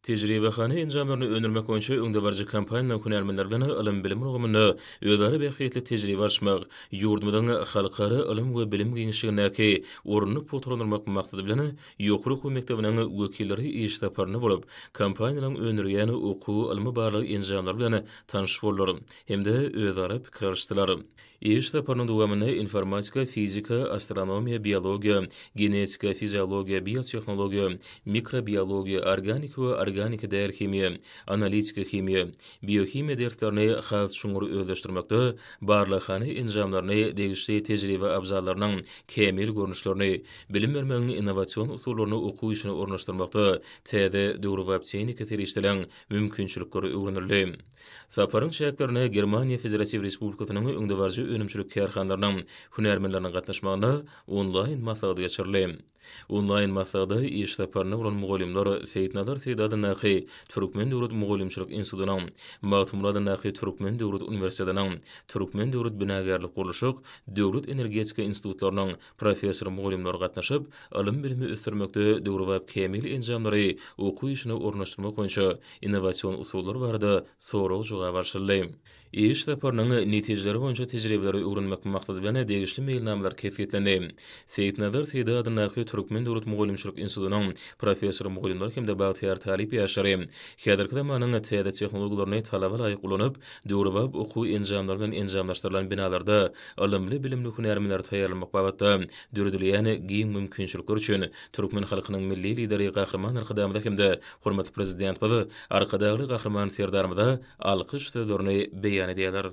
Tejribehana enjamlaryny öndürmek boýunça öňdebaryjy kompaniýanyň hünärmenleri bilen ylym-bilim ulgamynda özara bähbitli tejribe alyşmak, ýurdumyzyň halkara ylym we bilim giňişligindäki ornuny pugtalandyrmak maksady bilen, ýokary okuw mekdebiniň wekilleri iş saparynda bolup, kompaniýanyň öndürýän okuw ylmy-barlag enjamlary bilen tanyş boldular hem-de özara pikir alyşdylar. Iş saparynyň dowamynda informatika, fizika, astronomiýa, biologiýa, genetika, fiziologiýa, biotehnologiýa, mikrobiologiýa, organika we organika däl himiýa, analitika himiýa, biohimiýa derslerini has çuňňur özleşdirmekde barlaghana enjamlaryny, degişli tejribe abzallarynyň kämil görnüşlerini, bilim bermegiň innowasion usullaryny okuw işine ornaşdyrmakda täze döwrebap tehnika serişdeleriň mümkinçilikleri öwrenildi. Saparyň çäklerine Germaniýa Federatiw Respublikasynyň öňdebaryjy önümçilik kärhanalarynyň hünärmenleriniň gatnaşmagynda onlaýn maslahat geçirildi. Onlaýn maslahata iş saparyna bolan mugallymlar Seýitnazar Seýdi adyndaky Türkmen döwlet mugallymçylyk institutynyň, Magtymguly adyndaky Türkmen döwlet uniwersitetiniň, Türkmen döwlet binagärlik-gurluşyk, Döwlet energetika institutlarynyň, Professor-mugallymlar gatnaşyp, ylym-bilimi ösdürmekde döwrebap kämil enjamlary okuw işine ornaşdyrmak boýunça innowasion usullar barada sorag-jogap alşyldy. Iş saparynyň netijeleri boýunça tejribeleri öwrenmek maksady bilen degişli meýilnamalar kesgitlendi. Seýitnazar Seýdi adyndaky Türkmen döwlet mugallymçylyk institutynyň professor-mugallymlary hem-de bagtyýar talyp ýaşlary häzirki zamanyň täze tehnologiýalaryny talaba laýyk ulanyp, döwrebap okuw enjamlary bilen enjamlaşdyrylan binalarda ylymly-bilimli hünärmenleri taýýarlamak babatda döredilýän giň mümkinçilikler üçin türkmen halkynyň Milli Lideri Gahryman Arkadagymyza hem-de hormatly Prezidentimiz Arkadagly Gahryman Serdarymyza alkyş sözlerini beýan edýärler.